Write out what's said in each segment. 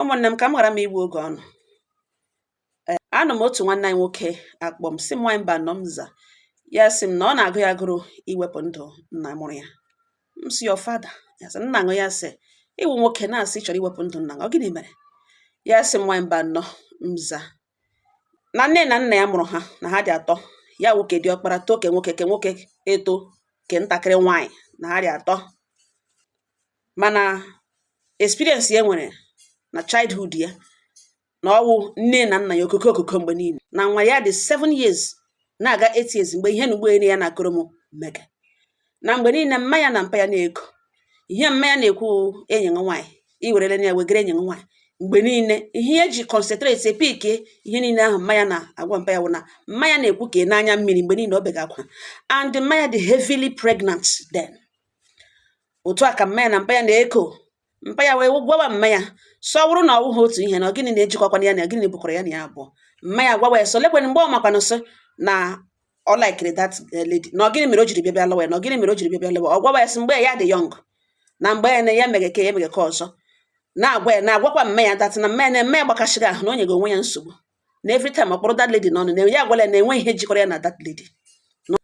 ụmụnne m ka m ghara m igbu oge unu eh, anọ m otu nwanne anyị nwoke akpọọ m sị m nwaanyị Mbanọ m za ya sị m na ọ na-agụ ya agụrụ iwepụ ndụ nna mụrụ ya m sị your father ya sị nna ṅụ ya sị ị wụ nwoke na-asị chọrọ iwepụ ndụ nna ọ gịnị mere ya sị m nwaanyị Mbanọ m za na nne na nna ya mụrụ ha na ha dị atọ ya nwoke diọkpara too ke nwoke ke nwoke eto ke ntakịrị nwaanyị na ha dị atọ mana experience ya nwere na childhood ya na ọ wụ nne na nna ya okoko okoko mgbe niile na nwa ya dị 7 years na-aga 8 years mgbe ihe na ụgbọelu ya na-akọrọ m mega na mgbe niile mma ya na mpa ya na-eko ihe mma ya na-ekwu enyi nwa nwaanyị iwerele na ya wegara enyi nwa nwaanyị mgbe niile ihe ya ji concentrate epike ihe niile ahụ mma ya na-agwa mpa ya wụ na mma ya na-ekwu ka ị n'anya mmiri mgbe niile ọ bega akwa and mma ya dị heavily pregnant then otu a ka mma ya na mpa ya na-eko mpa ya wee gwawa mma ya sị ọ wụrụ na ọ wụghị otu ihe na gịnị na-ejikọkwana ya na gịnị bụkwara ya na ya abụọ mma ya gwawa ya sị ọ lekwe mgbe ọ makwana sị na ọ laikiri that eh, lady na gịnị mere o jiri bịa bịa lụwa ya na gịnị mere o jiri bịa bịa lụwa ọ gwawa ya sị mgbe ya dị young na mgbe ya na ya mere ke a mere ke ọzọ na-agwa ya na-agwakwa mma ya that na mma ya na mma ya gbakasịrị ahụ na o nyega onwe ya nsogbu na every time ọ kpọrọ that lady n'ọnụ na ya agwala ya na enweghị ihe jikọrọ ya na that lady Na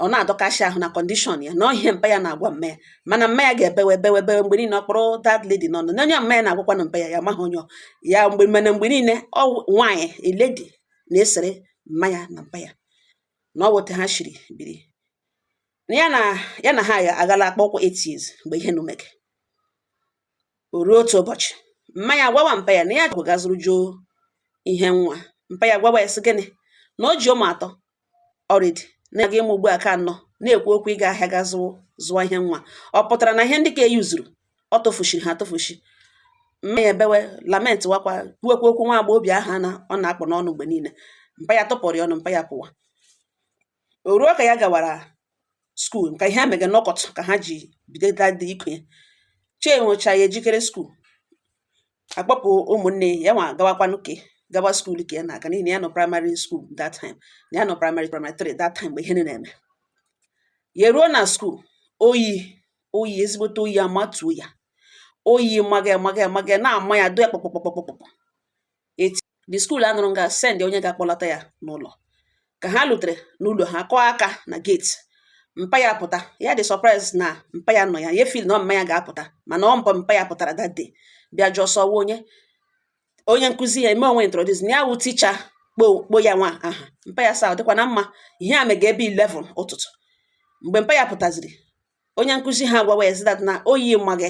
ọ na-adọkashi ahụ na condition ya na ọ ihe mpa ya na-agwa mma ya mana mma ya ga-ebewe ebewe ebewe mgbe niile ọ kpọrọ that lady n'ọnụ na onye mma ya na-agwakwanụ mpa ya ya amaghị onye ọ- ya mgbe mana mgbe niile ọ nwaanyị a lady na-esere mma ya na mpa ya na ọ wụ etu ha shiri biri na ya na ya na ha aghala akpa ụkwụ 8 years mgbe ihe nụ mege O ruo otu ụbọchị, mma ya gwawa mpa ya na ya ga zụrụ juo ihe nwa. Mpa ya gwawa ya sị gịnị? Na o ji ụmụ atọ already na-aga ịmụ ugbu a ke anọ na-ekwu okwu ịga ahịa ga zụọ zụọ ihe nwa. Ọ pụtara na ihe ndị ke e yuzuru ọ tụfuchiri ha atụfuchi. Mma ya ebewe lament wakwa kwuwekwa okwu nwa agbọghọbịa ahụ a na ọ na-akpụ n'ọnụ mgbe niile. Mpa ya tụpụrụ ya ọnụ, mpa ya pụwa. O ruo ka ya gawara school ka ihe a mege nọkọt ka ha ji bido dị iku ya chee nwecha ya ejikere school akpọpụ ụmụnne ya nwa gawakwanụ ke gawa school ka ya na-aga n'ihi na ya nọ primary school that time na ya nọ primary primary 3 that time mgbe ihe na-eme ya ruo na school oyi oyi ezigbote oyi amatuo ya oyi maga maga maga na-ama ya do ya kpọkpọkpọkpọkpọ eti the school anọrọ nga send onye ga-akpọlata ya n'ụlọ ka ha lutere n'ụlọ ha kụọ aka na gate mpa ya pụta ya dị surprise na mpa ya nọ ya ya feel na mma ya ga-apụta mana ọ mpa mpa ya pụtara that day bịa jụọ sị ọ wụ onye onye nkụzi ya eme onwe introduce na ya wụ teacher kpọọ kpọọ ya nwa aha mpa ya sị ọ dịkwa na mma ihe a mega ebe 11 ụtụtụ mgbe mpa ya pụtaziri onye nkụzi ha gwawa ya zi that na oyi maga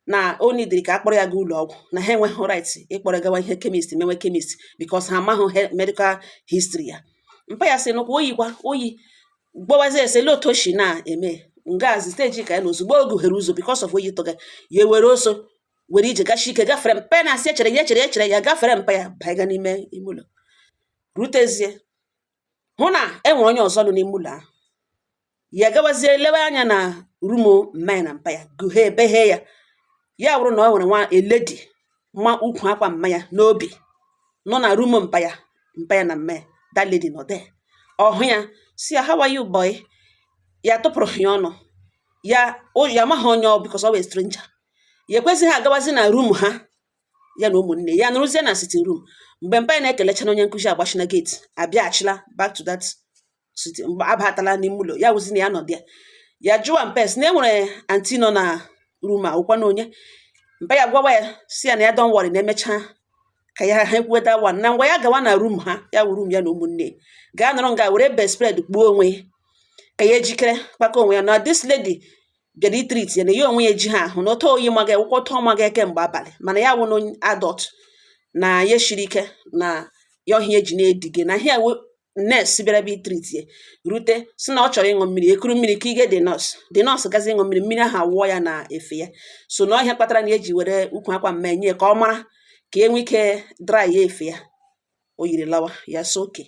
na o nidiri ka a kpọrọ ya gaa ụlọ ọgwụ na ha enweghị right ịkpọrọ gawa ihe chemist menwe chemist because ha amaghị medical history ya mpa ya sị nụkwa oyikwa oyi gbawazi ese lee otu o si na-eme ngazi stage ka ya na ozugbo o gụhere ụzọ because of oyi tụga ya were ọsọ were ije gashi ike gafere mpa ya na-asị ya chere ya chere chere ya gafere mpa ya baiga n'ime ime ụlọ rutezie hụ na e nwere onye ọzọ nọ n'ime ụlọ ahụ ya gawazie lewe anya na room mma ya na mpa ya gụhe ebeghe ya ya bụrụ na ọ nwere nwa lady ma ukwu akwa mma ya n'obi nọ na room mpa ya mpa ya na mma ya that lady nọ there ọ hụ ya sị ya how are you boy ya tụpụrụghị ya ọnụ ya ya amaghị onye ọ because ọ bụ stranger ya ekwezighị agawazi na room ha ya na ụmụnne ya nọrọzie na sitting room mgbe mpa ya ekelechana onye nkụzi agbachina gate abịaghachila back to that sitting mgbe ọ batala n'ime ụlọ ya wụzi na ya nọ there ya jụwa mpa ya sị na e nwere anti nọ na room ha ọ wụkwanụ onye mpa ya gwawa ya sị ya na ya don't worry na e mechaa ka ya ha ekwuwe that one na ngwa ya gawa na room ha ya wụ room ya na ụmụnne gaa nọrọ nga were bed spread kpuo onwe ya ka ya jikere kpakọ onwe ya na this lady bịara ịtreat ya na ya onwe ya ejighị ahụ na otu oyi maga ya ọ wụkwa otu ọ maga ya kemgbe abalị mana ya wụ na onye adult na ya shiri ike na ya ọ ihe a o ji na-edige na ihe wụ nurse bịara bịa ịtreat ya rute sị na ọ chọrọ ịṅụ mmiri e kuru mmiri ka ige the nurse the nurse gazi ịṅụ mmiri mmiri ahụ awụọ ya na efe ya sị na ọ ihe a kpatara na e ji were ukwu akwa mma ya nye ya ka ọ mara ka e nwee ike dry ya efe ya o yiri lawa ya sị okay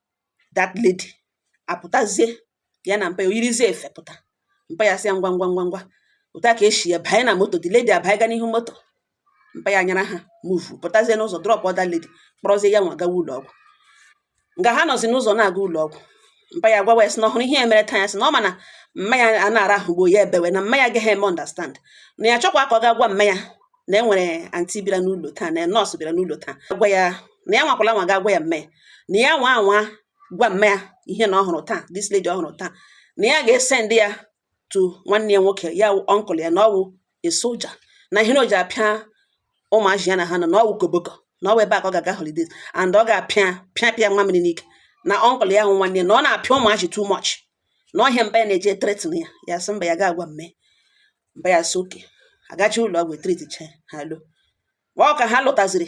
that lady apụtazie ya na mpa ya o yirizie efe pụta mpa ya sị ya ngwa ngwa ngwa ngwa otu a ka a sị ya banye na moto the lady abanye ga n'ihu moto mpa ya nyara ha move pụtazie n'ụzọ dropụọ that lady kpọrọzie ya nwa gawa ụlọ ọgwụ nga ha nọzi n'ụzọ na-aga ụlọ ọgwụ mpa ya gwawa ya sị na ọ hụrụ ihe ya mere taa ya sị na ọ ma na mma ya a na-arahụgbo ya ebewe na mma ya agaghị eme understand na ya chọkwa ka ọ ga gwa mma ya na e nwere anti bịara n'ụlọ taa na nurse bịara n'ụlọ taa gwa ya na ya nwakwala nwa ga-agwa ya mma ya na ya nwa anwa gwa mma ya ihe na ọ hụrụ taa this lady ọ hụrụ taa na ya ga-esend ya to nwanne ya nwoke ya uncle ya na ọ wụ a soldier na ihe na o ji apịa ụmụazị ya na ha nọ na ọ wụ koboko na ọ wụ ebe a ka ọ ga-aga holidays and ọ ga-apịa pịa pịa nwa mmiri n'ike na uncle ya ahụ nwanne ya na ọ na-apịa ụmụazị too much na ọ ihe a mpa ya na-eji threaten ya ya sị mba ya ga-agwa mma mpa ya sị okay a gachaa ụlọ ọgwụ e treatchaa ha lọwa ọ ka ha lọtaziri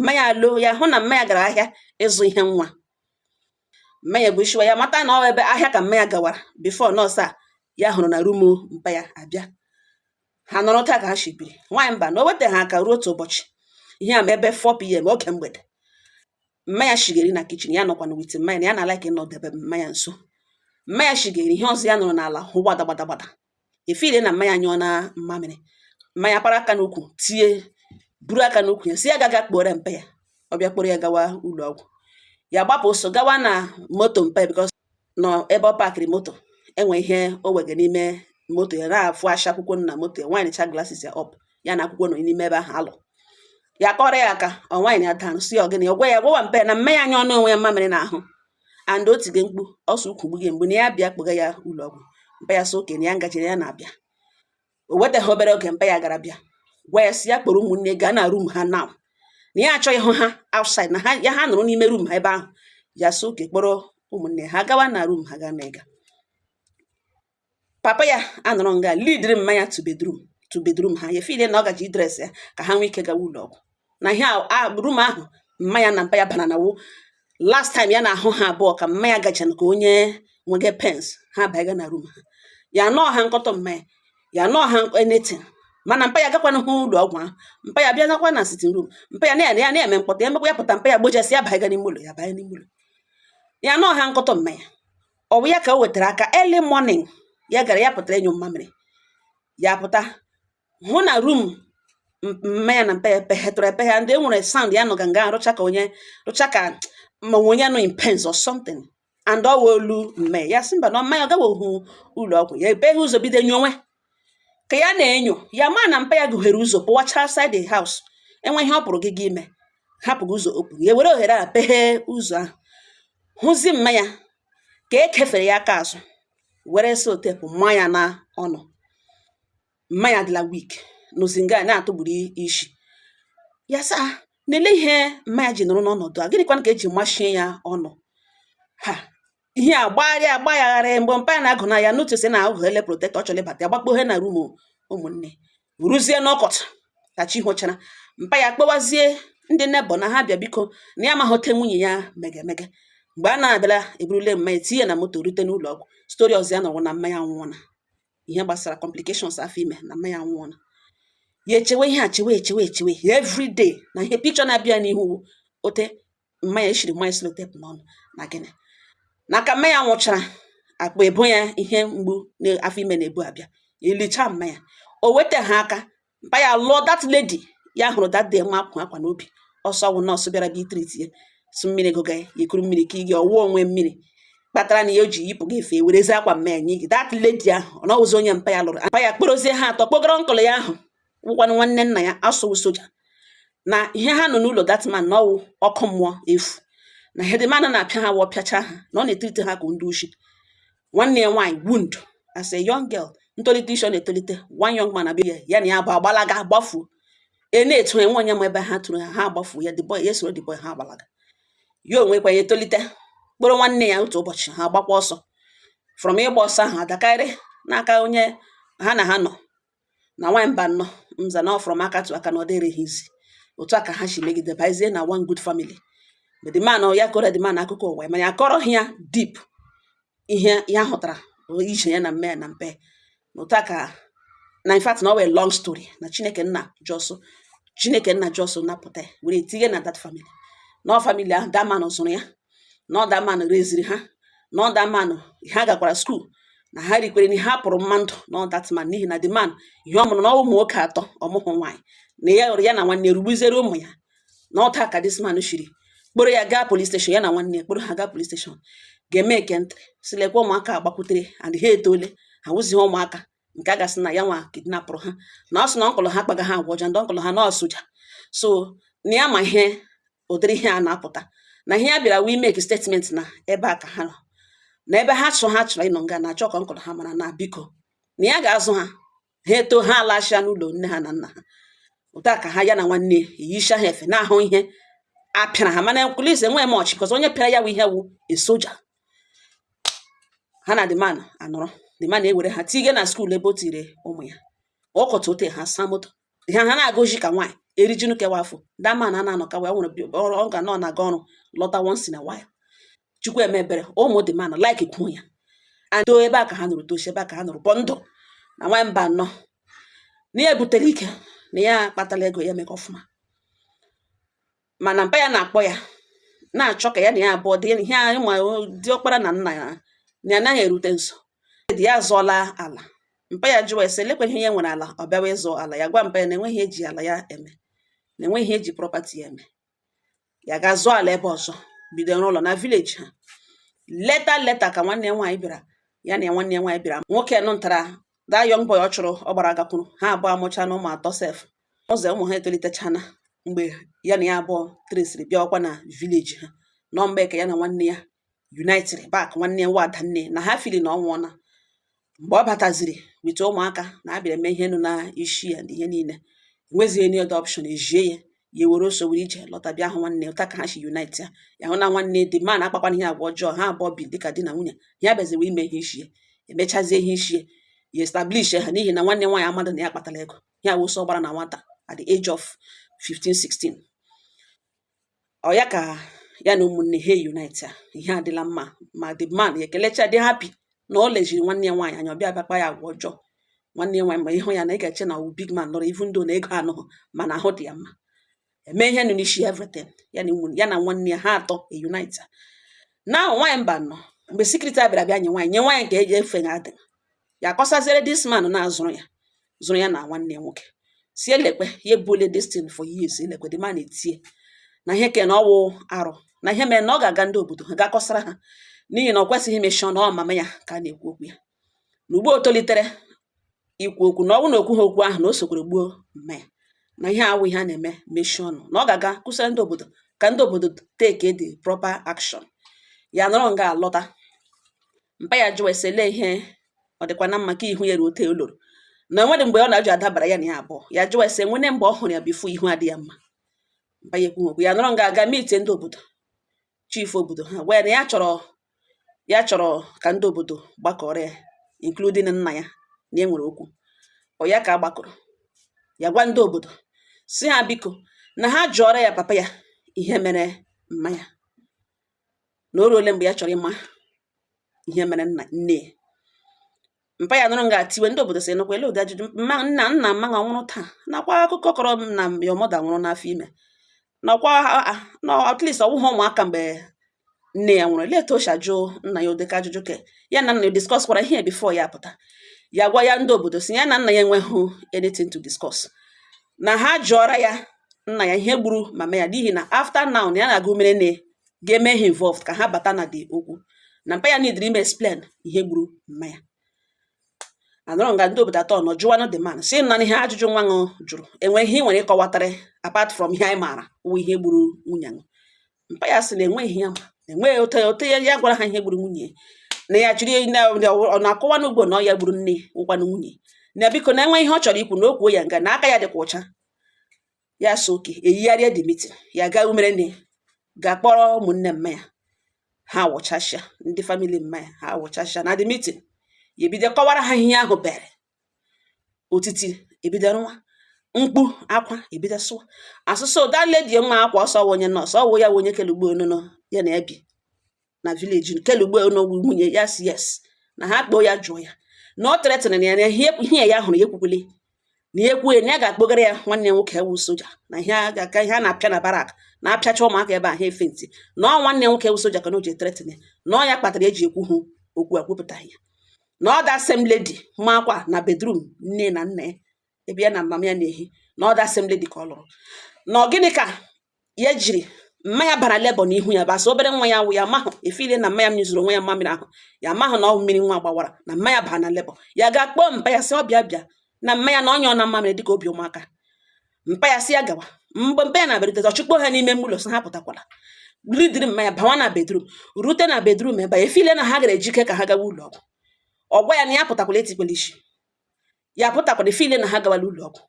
mma ya lọ ya hụ na mma ya gara ahịa ịzụ ihe nwa mma ya gwuchiwa ya mata na ọ ebe ahịa ka mma ya gawara before nurse a ya hụrụ na room mpa ya abịa ha nọrọ taa ka ha shi biri nwaanyị mana o wetaha aka ruo otu ụbọchị ihe a maybe 4 pm oge mgbede mma ya shige iri na kitchen ya nọkwa na with mma ya na ya na-alike ịnọdebe mma ya nso mma ya shige iri ihe ọzọ ya nụrụ n'ala wụ gbada gbada gbada efeel na mma ya anyụọna mmamịrị mma ya para aka n'ukwu tie buru aka n'ukwu ya sị ya gaa ga kpọrọ mpa ya ọ bịa kpọrọ ya gawa ụlọ ọgwụ ya gbapụ ọsọ gawa na moto mpa ya because na ebe ọ parkịrị moto e nwe ihe o wege n'ime moto ya na-afụ asha akwụkwọ na moto ya windchaa glasses ya up ya na akwụkwọ nọ n'ime ebe ahụ alụ ya kụọrọ ya aka ọ wind ya down sị ọ gịnị ọ gwa ya gwawa mpa ya na mma ya anyụọna onwe ya mmamịrị n'ahụ and o tige mkpu ọ sị ukwu gbughe ya mgbu na ya bịa kpọga ya ụlọ ọgwụ mpa ya sị okay na ya gajere ya na-abịa o wetaghị obere oge mpa ya gara bịa gwa ya sị ya kpọrọ ụmụnne gaa na room ha now na ya achọghị ịhụ ha outside na ya ha nọrọ n'ime room ha ebe ahụ ya sị okay kpọrọ ụmụnne ha gawa na room ha gaa na ịga papa ya anọrọ nga leadịrị mma ya to bedroom to bedroom ha ya feel na ọ gaje idress ya ka ha nwee ike gawa ụlọ ọgwụ na ihe room ahụ mma ya na mpa ya bara na wụ last time ya na-ahụ ha abụọ ka mma ya gacha ka onye nwege pains ha banye na room ha ya anụha mkpọtụ mma ya ya anụha anything mana mpa ya agakwanahụ ụlọ ọgwụ ahụ mpa ya bịa nọkwa na sitting room mpa ya na ya na-eme mkpọtụ ya mekwa ya pụta mpa ya gbojaa sị ya banye n'ime ụlọ ya banye n'ime ụlọ ya anụha mkpọtụ mma ya ọ wụ ya ka o wetara aka early morning ya gara ya pụtara ịnyụ mmamịrị ya pụta hụ na room mma ya na mpa ya peghetụrụ epeghe and e nwere sound ya nụga nga rịcha ka onye rịcha ka ma nwe onye nọ in pains or something and ọ wụ olu mma ya ya sị mana mma ya ọ gawahụ ụlọ ọgwụ ya epeghe ụzọ bido nyowe ka ya na-enyo ya ma na mpa ya gụghere ụzọ pụwacha outside the house e nwe ihe ọ pụrụ ga ga ime hapụga ụzọ open ya were ohere a peghee ụzọ ahụ hụzi mma ya ka e kefere ya aka azụ were sellotape maa ya n'ọnụ mma ya adịla weak nọzi nga na-atụgburu isi ya sị aa na olee ihe mma ya ji nọrọ n'ọnọdụ a gịnịkwanụ ka e ji machie ya ọnụ a ihe a gbagharịa ya agbagharị mgbe mpa ya na-agụ na ya notice na ọ gụghele protector chọrọ ịbata ya gbakpoghe na room ụmụnne ruzie n'ụtụtụ ka chi họchara mpa ya kpọwazie ndị neighbour na ha bịa biko na ya amaghị otu nwunye ya mege mege mgbe a na-abịala e burule mma ya tinye na moto rute n'ụlọ ọgwụ story ọzọ ya nụrụ na mma ya anwụọna ihe gbasara complications afọ ime na mma ya anwụọna ya echewe ihe a chewe echewe echewe everyday na ihe picture na-abịa n'ihu ote mma ya eshiri mmanya selotepụ n'ọnụ na gịnị na ka mma ya nwụchara akpa ebo ya ihe mgbu n'afọ ime na-ebu abịa elicha mma ya o weta ha aka mpa ya lụọ that lady ya hụrụ that day nwa akwụ akwa n'obi ọsọ wụ nọọsụ bịara bịa itriti ya sụ mmiri goga ya ikuru mmiri ka ị gị ọwụwa onwe mmiri kpatara na ya o ji yipụ gị efe werezi akwa mma ya nye gị that lady ahụ ọ na ọ wụzi onye mpa ya lụrụ mpa ya kporozie ha atọ kpogara ọnkụlụ ya ahụ wụkwanụ nwanne nna ya a sị wụ soja na ihe ha nọ n'ụlọ that man na ọ wụ ọkụ mmụọ efu na ihe the man na-apịa ha wụ ọ pịacha ha na ọ na-etriti ha ka ndị oshi nwanne ya nwaanyị wound as a young girl ntolite isi ọ na-etolite one young man abịa ya na ya bụ agbalaga gbafuo e na-etu enwe onye ma ebe ha tụrụ ha ha agbafuo ya the boy ya soro the boy ha agbalaga ya onwe kwa ya etolite kpọrọ nwanne ya otu ụbọchị ha gbakwa ọsọ from ịgba ọsọ ahụ adakarị n'aka onye ha na ha nọ na nwaanyị mba nnọ nza na from aka to aka na ọ dịrịghị easy otu a ka ha si megide bazie na one good family the man ya kọrọ the man akụkọ ụwa mana ya kọrọ ha ya deep ihe ya hụtara ije ya na mme na mpe na otu a ka na in fact na ọ wụ a long story na chineke nna just chineke nna just napụta were tinye na that family na family ahụ that man zụrụ ya na ọ that man reziri ha na ọ that man ha gakwara skuul na ha rikwere na ha pụrụ mmadụ na ọ that man n'ihi na the man ihe ọ mụrụ na ụmụ nwoke atọ ọ mụhụ nwaanyị na ya na nwanne rugbuziere ụmụ ya na otu a ka this man shiri kporo ya gaa polis steshọn ya na nwanne ya kporo ha gaa polis steshọn ga emeke entry sị lekwa ụmụaka a gbakwutere and ha etoole ha wụzighị ụmụaka nke a ga-asị na ya nwa kidnapụrụ ha na ọ sị na ọnkụlụ ha kpaga ha agwa ọja ndị ọnkụlụ ha na ọ soja so na ya ma ihe ụdịrị ihe a na-apụta na ihe ya bịara wee make statement na ebe a ka ha nọ na ebe ha chọ ha chọrọ ịnọ nga na-achọ ka ọnkụlụ ha mara na biko na ya ga-azụ ha ha eto ha alachia n'ụlọ nne ha na nna ha otu a ka ha ya na nwanne eyicha ha efe na-ahụ ihe a pịara ha mana polis enweghị much cos onye pịara ya wụ ihe wụ a soja ha na the man anọrọ the man ewere ha tinye na skuul ebe o tire ụmụ ya ọ kọta ote ha saa moto ha ha na-agụji ka nwaanyị erijinu kewa afọ that man a na-anọ ka wee nwere ọrụ ọ ga nọ na-aga ọrụ lọta once in a while chukwu eme ebere ụmụ the man like kwuo ya and ebe a ka ha nọrọ tosi ebe a ka ha nọrọ bụ ndụ na nwa mba anọ na ya ebutere ike na ya akpatala ego ya mega ọfụma mana mpa ya na-akpọ ya na-achọ ka ya na ya abụọ dị ihe anyị ma ọkpara na nna ya na ya naghị erute nso dị ya zụọla ala mpa ya jụwa ese lekwa ihe ya nwere ala ọ bịawa ịzụ ala ya gwa mpa ya na enweghị eji ala ya eme na enweghị ihe eji property ya eme ya ga zụọ ala ebe ọzọ bido ịrụ ụlọ na village ha later later ka nwanne ya nwaanyị bịara ya na ya nwanne ya nwaanyị bịara nwoke nụ ntara that young boy ọ chụrụ ọ gbara gakwuru ha abụọ amụcha na ụmụ atọ sef ọzọ ụmụ ha etolitechana mgbe ya na ya abụọ tresịrị bịakwa na village ha nọ mgbe ka ya na nwanne ya united back nwanne ya nwa adanne na ha fili na ọ nwụọna mgbe ọ bataziri weta ụmụaka na abịara eme ihe nụ na isi ya na ihe niile enwezighị any other option ejie ya ya ewere ọsọ were ije lọta bịa hụ nwanne otu a ka ha si unite ya ya hụ na nwanne the man akpakwana ya agwa ọjọọ ha abụọ bi dịka di na nwunye ya bịaziwe ime ihe isi ya emechazie ihe isi ya ya establish ha n'ihi na nwanne nwaanyị amadụ na ya kpatara ego ya bụ ọsọ ọ gbara na nwata at the age of 15 16 ọ ya ka ya na ụmụnne ha unite a ihe adịla mma ma the man ya ekelecha dị happy na o lejiri nwanne ya nwaanyị anya ọ bịa bịa kpa ya agwa ọjọọ nwanne ya nwaanyị ma ị hụ ya na ị ga-eche na ọ wụ big man lụrụ even though na ego anọghị mana ahụ dị ya mma eme ihe nụ n'isi everything ya na nwunye ya na nwanne ya ha atọ e unite na nwaanyị mba nọ mgbe security a bịara bịa nye nwaanyị nye nwaanyị nke eji efe ya adị ya akọsaziere this man na-azụrụ ya zụrụ ya na nwanne ya nwoke sị elekwe ya ebule this thing for years elekwe the man etie na ihe ke na ọ wụ arụ na ihe mere na ọ ga-aga ndị obodo ha ga-akọsara ha n'ihi na ọ kwesịghị imechi ọnụ ọ mama ya ka a na-ekwu okwu ya na ugbu o tolitere ikwu okwu na ọ bụrụ na o kwughị okwu ahụ na o sokwere gbuo mma ya na ihe a awụghị ihe a na-eme mechie ọnụ na ọ ga-aga kọsara ndị obodo ka ndị obodo take the proper action ya nọrọ nga alọta mpa ya jụọ ya sị olee ihe ọ dịkwa na mma ka ihu ya ruo ote o loro na nwere mgbe ọ na-ajụ adabara ya na ya abụọ ya jụọ ya sị e nweena mgbe ọ hụrụ ya before ihu adị ya mma mpa ya ekwu okwu ya nọrọ nga aga mitie ndị obodo chief obodo ha gwa ya na ya chọrọ ya chọrọ ka ndị obodo gbakọrọ ya including nna ya na e nwere okwu ọ ya ka a gbakọrọ ya gwa ndị obodo sị ha biko na ha jụọra ya papa ya ihe mere mma ya na o ruole mgbe ya chọrọ ịma ihe mere nna nne ya mpa ya nọrọ nga tiwe ndị obodo sị nụkwa ele ụdị ajụjụ mma nna nna mma ọ nwụrụ taa nakwa akụkọ kọrọ m na your mother nwụrụ n'afọ ime nakwa na at least ọ wụghị ụmụaka mgbe nne ya nwụrụ ele etu o si ajụ nna ya ụdịka ajụjụ ka ya na nna ya discuss kwara ihe before ya pụta ya gwa ya ndị obodo sị ya na nna ya enweghị anything to discuss na ha jụọra ya nna ya ihe gburu mama ya n'ihi na after now na ya na-aga umerenne ga-eme ha involved ka ha bata na dị okwu na mpa ya nidiri ime explain ihe gburu mma ya a nọrọ nga ndị obodo atọ nọ jụwanụ the man sị na ihe ajụjụ nwa ṅụ jụrụ e nwere ihe ị nwere ịkọwatara apart from ihe anyị maara wụ ihe gburu nwunye ṅụ mpa ya sị na enweghị ya ma enweghị ote ote ya ya gwara ha ihe gburu nwunye na ya jiri ọ na-akọwa n'ugbo na ọ ya gburu nne wụkwanụ nwunye na biko na e nwe ihe ọ chọrọ ikwu na o kwuo ya nga na aka ya dịkwa ọcha ya sị okay eyigharịa the meeting ya gaa umere nne gaa kpọrọ ụmụnne mma ya ha wụchasịa ndị family mma ya ha wụchasịa na the meeting ya ebido kọwara ha ihe ahụ bere otiti ebido nwa mkpu akwa ebido sụwa asụsụ that lady nwa akwa ọsọ onye nọọsụ ọ wụ ya onye kele ugbo onono ya na-ebi na village kelugbe n'ogwu nwunye ya si yes na ha kpọọ ya jụọ ya na ọ tretịrị na ya na ihe ya hụrụ ya ekwukwele na ya ekwughị na ya ga-akpọgara ya nwanne ya nwoke e wụ soja na ihe a ga-aka ihe a na-apịa na barrack na-apịacha ụmụaka ebe a ha efe ntị na ọ nwanne nwoke e wụ soja ka na o ji etretịn ya na ọ ya kpatara e ji ekwuhụ okwu ekwupụtaghị ya na ọ that same lady makwa na bedroom nne na nna ya ebe ya na mama ya na-ehi na ọ that same lady ka ọ lụrụ na ọ gịnị ka ya jiri mma ya bara labour n'ihu ya basa obere nwa ya wụ ya mahụ efile na mma ya nyụzuru onwe ya mmamịrị ahụ ya mahụ na ọ mmiri nwa gbawara na mma ya bara na labour ya gaa kpọọ mpa ya sị ọ bịa bịa na mma ya na-anyụ onwe mmamịrị dịka obi ụmụaka mpa ya sị ya gawa mgbe mpa ya na-abịarute ọ chụkpọọ ha n'ime mgbụlọ sị ha pụtakwala lidiri mma ya bawa na bedroom rute na bedroom ebe ya efile na ha gara ejike ka ha gawa ụlọ ọgwụ ọ gwa ya na ya pụtakwala etikwala isi ya pụtakwala efile na ha gawala ụlọ ọgwụ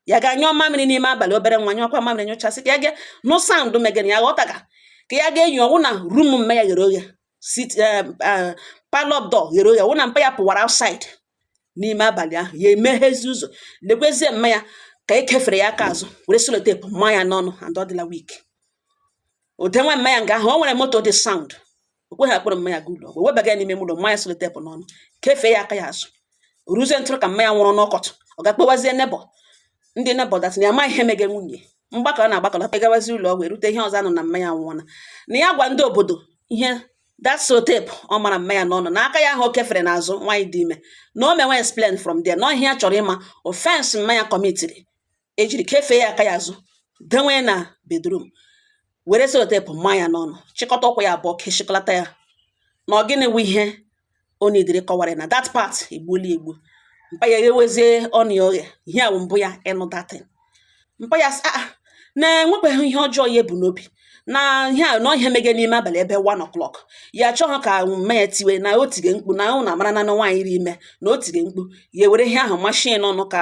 ya gaa nyụọ mamịrị n'ime abalị obere nwa nyụọkwa mamịrị nyụchasịa ka ya ga nụ sound megana ya ghọtaga ka ya ga-enyo ọ wụ na room mme ya ghere oghe sit eh, eh, parlour door ghere oghe ọ wụ na mpa ya pụwara outside n'ime abalị ahụ ya emeghezi ụzọ lekwezie mma ya ka e kefere ya aka azụ were selotepụ maa ya n'ọnụ and ọ dịla weak o denwe mma ya nga ahụ o nwere moto dị sound o kweghị akpọrọ mma ya gaa ụlọ ọgwụ webaga ya n'ime ụlọ maa ya selotepụ n'ọnụ kefee ya aka ya azụ ruzie until ka mma ya nwụrụ n'ụtụtụ ọ ga-akpọwazie neighbour ndị neighbour datị na ya ma ihe mege nwunye mgbakọ a na-agbakọlata gawazi ụlọ ọgwụ erute ihe ọzọ a nụ na mma ya nwụọna na ya gwa ndị obodo ihe that selotepụ ọ mara mma ya n'ọnụ na aka ya ahụ o kefere n'azụ nwaanyị dị ime na o menwe explain from there na ihe ya chọrọ ịma offence mma ya kọmitiri e jiri kefee ya aka ya azụ denwe na bedroom were selotepụ maa ya n'ọnụ chịkọta ụkwụ ya abụọ keshịkọlata ya na ọ gịnị wụ ihe ọ nọdụrụ kọwara na that part egbuola egbu mpa ya eghewezie ọnụ ya oghe ihe a mbụ ya ịnụ that thing mpa ya a ah, na-enwekwaghị ihe ọjọọ ya ebu n'obi na ihe a nọ ihe mege n'ime abalị ebe 1 o'clock ya achọghị ka mme ya tiwe na o tige mkpu na ahụ na a mara na nwaanyị rị ime na o tige mkpu ya were ihe ahụ machie ya ọnụ ka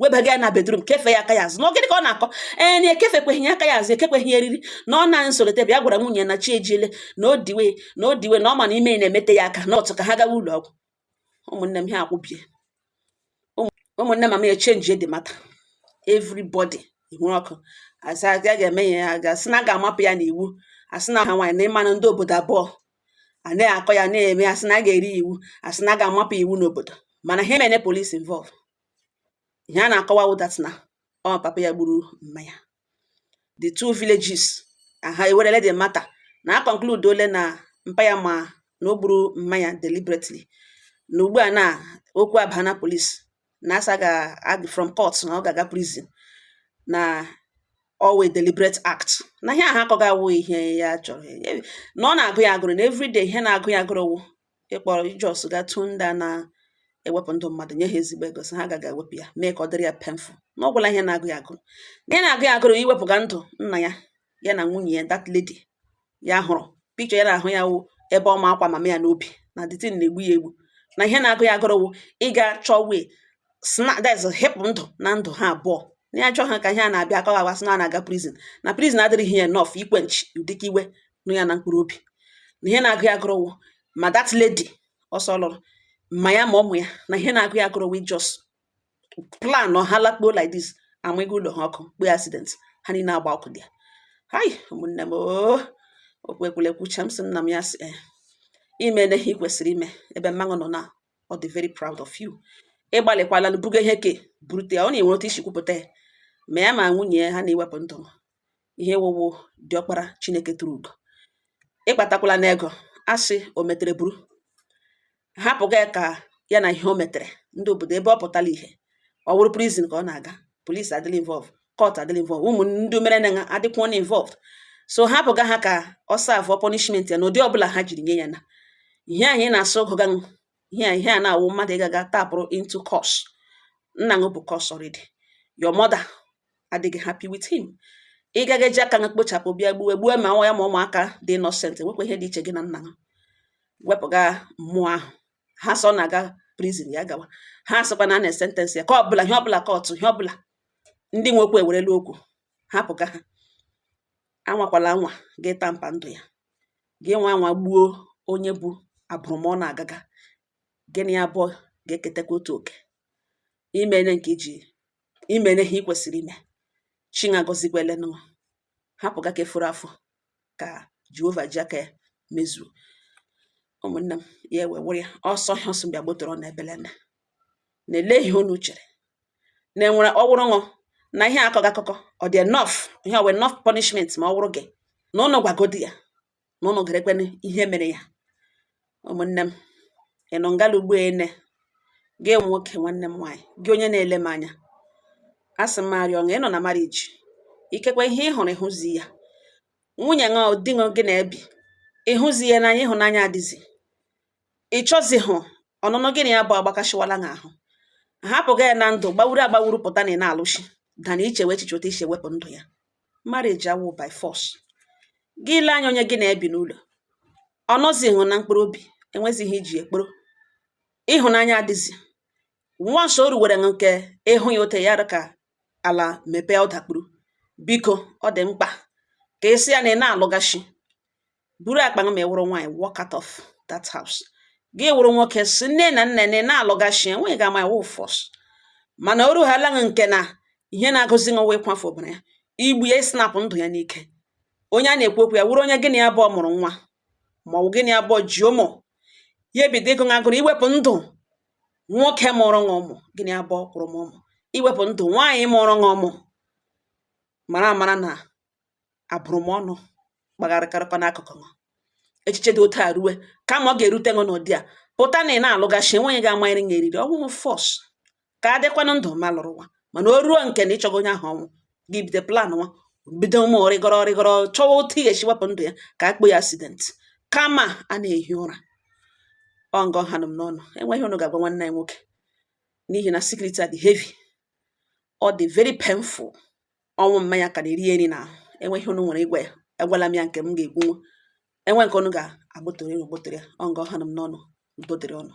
webaga ya na bedroom kefe ya aka ya azụ na gịnị ka ọ na-akọ ee na ekefekweghị ya aka ya azụ ekekweghị eriri na ọ na nsolite bịa gwara nwunye na chi ejiele na o diwe na o diwe na ọ ma na ime na-emete ya aka n'ụtụtụ ka ha gawa ụlọ ọgwụ ụmụnne m ha akwụbie ụmụnne ma m echenji the matter everybody ihu ọkụ a sị a ga-eme ya ya ga-asị na a ga-amapụ ya n'iwu a sị na ha nwaanyị na ị manụ ndị obodo abụọ a na-akọ ya na-eme a sị na a ga-eri iwu a sị na a ga-amapụ iwu n'obodo mana ha emene police involve ihe a na-akọwa wụ that na ọ papa ya gburu mma ya the two villages aha ewerele the matter na a conclude ole na mpa ya ma na o gburu mma ya deliberately na ugbu a na okwu abaa na police na asa ga from court na ọ ga-aga prison na ọ wụ a deliberate act na ihe ahụ akọga awụ ihe ya chọrọ na ọ na-agụ ya agụrụ na everyday ihe na-agụ ya agụrụ wụ ịkpọrọ i just ga tụọ ndị a na-ewepụ ndụ mmadụ nye ha ezigbo ego sị ha gaga ewepụ ya mee ka ọ dịrị ya painful na ọ gwụla ihe na-agụ ya agụrụ ihe na-agụ ya agụrụ iwepụga ndụ nna ya ya na nwunye ya that lady ya hụrụ picture ya na-ahụ ya wụ ebe ọ ma akwa mama ya n'obi na the thing na-egbu ya egbu na ihe na-agụ ya agụrụ wụ ịga chọọ way esi hepụ ndụ na ndụ ha abụọ na ya chọọ ha ka ihe a na-abịa akọwa agwa sị na a na-aga prison na prison adịrịghị ya enough iquench ụdịka iwe nọ ya na mkpụrụ obi na ihe na-agụ ya agụrụ wụ ma that lady ọ sị ọ lụrụ ma ya ma ụmụ ya na ihe na-agụ ya agụrụ wụ i just plan ọ ha lakpuo like this amụnye ụlọ ha ọkụ kpee accident ha niile agba ọkụ there hai ụmụnne m oo okwu ekwulekwucha m sị nna m ya sị ee eh, i mena ihe ị kwesịrị ime ebe mma ṅụ nọ na ọ dị very proud of you ị gbalịkwala na buga ihe ke burute ya na i nwere otu i si kwupụta ya ma ya ma nwunye ya ha na-ewepụ ndụ ihe ị wụ wụ diọkpara chineke tụrụ ugo ị kpatakwala na ego a sị o metere buru hapụga ya ka ya na ihe o metere ndị obodo ebe ọ pụtala ihe ọ wụrụ prison ka ọ na-aga police adịla involve court adịla involved ụmụ ndị mere na adịkwuona involved so hapụga ha ka ọ serveụọ punishment ya na ụdị ọbụla ha jiri nye ya na ihe anyị na-asị ọ gụga ihe a ihe a na-awụ mmadụ ịgaga tapụrụ into curse nna ṅụ bu curse already your mother adịghị happy with him ị gaga eji aka ṅụ kpochapụ bịa gbuwe gbuo ma nwa ya ma ụmụaka dị innocent nwekwa ihe dị iche gị na nna ṅụ wepụga mmụọ ahụ ha sị ọ na-aga prison ya gawa ha sịkwa na a na-esentence ya ka ọbụla ihe ọbụla court ihe ọbụla ndị nwe okwu ewerela okwu hapụga ha anwakwala anwa gị tamper ndụ ya gị nwa anwa gbuo onye bu abụrụmọnụ agaga gị na ya abụọ ga-eketakwa otu oke i mene nke gị i mene ihe ị kwesịrị ime chineke agọzikwele ṅụ hapụga ke fọrọ afọ ka jehova ji aka ya mezuo ụmụnne m ya ewe were ya ọsọ ihe ọsọ bịa gbotoro na ebele na na-ele ihe unu chere na enwere ọ wụrụ ṅụ na ihe akọga akụkọ ọ dị enough ihe ọ wụ enough punishment ma ọ wụrụ gị na ụnụ gwagodi ya na ụnụ gerekwene ihe mere ya ụmụnne m ị nọ ngala ugbo ene gị enwe nwoke nwanne m nwaanyị gị onye na-ele m anya a sị m arịọ ṅụ ị nọ na marriage ikekwe ihe ị hụrụ ị hụzi ya nwunye ṅụ di ṅụ gị na ya bi ị hụzi ya n'anya ịhụnanya adịzi ị chọzihụ ọnụnọ gị na ya abụọ agbakasịwala gị ahụ hapụga ya na ndụ gbawuru agbawuru pụta na ị na-alụchi than ị chewe echiche otu i si ewepụ ndụ ya marriage awụ by force gị lee anya onye gị na-ebi n'ụlọ ọ nọzighị na mkpụrụ obi enwezighị ihe i ji ya kpọrọ ịhụnanya adịzi nwa nso o ruwere nke ị hụ ya otu a ka ala mepee ọ dakpuru biko ọ dị mkpa ka ị sị ya na ị na-alụghachi buru akpa gị ma ị wụrụ nwaanyị walk out of that house gị wụrụ nwoke sị nne na nna na ị na-alụgachi enweghị onye ga-ama iwu force mana o ruhala gị nke na ihe na-agụzi gị wụ ịkwafu ọbara ya igbu ya ịsnapụ ndụ ya n'ike onye a na-ekwu okwu ya wụrụ onye gị na ya abụọ mụrụ nwa ma ọ bụ gị na ya abụọ ji ụmụ ya ebido ịgụ gị agụrụ iwepụ ndụ nwoke mụrụ gị ụmụ gị na ya abụọ kwụrụ mụọ ụmụ iwepụ ndụ nwaanyị mụrụ gị ụmụ mara amara na abụrụmọnụ kpagharịkarịkwa n'akụkụ ṅụ echiche dị otu a rue kama ọ ga-erute ṅụ n'ụdị a pụta na ị na-alụgachi enweghị onye ga-amanyere ṅụ eriri ọ wụhụ force ka a dịkwanụ ndụ ma lụrụ nwa mana o ruo nke na ị chọgo onye ahụ ọnwụ gị bido planwa bido ụmụ rịgọrọ rịgọrọ chọwa otu ị ga-esi wepụ ndụ ya ka a kpọọ ya accident kama a na-ehi ụra ọ ngọ ha nụ m n'ọnụ enwee ihe unu ga-agwa nwanne anyị nwoke n'ihi na secret a dị heavy ọ dị very painful ọnwụ mma ya ka na-eri ya eri n'ahụ enwee ihe unu nwere ịgwa ya agwala m ya nke m ga-ekwu enwee nke unu ga-agbụtụrụ unu gbụtụrụ ya ọ nga ọha nụ m n'ọnụ udo dịrị unu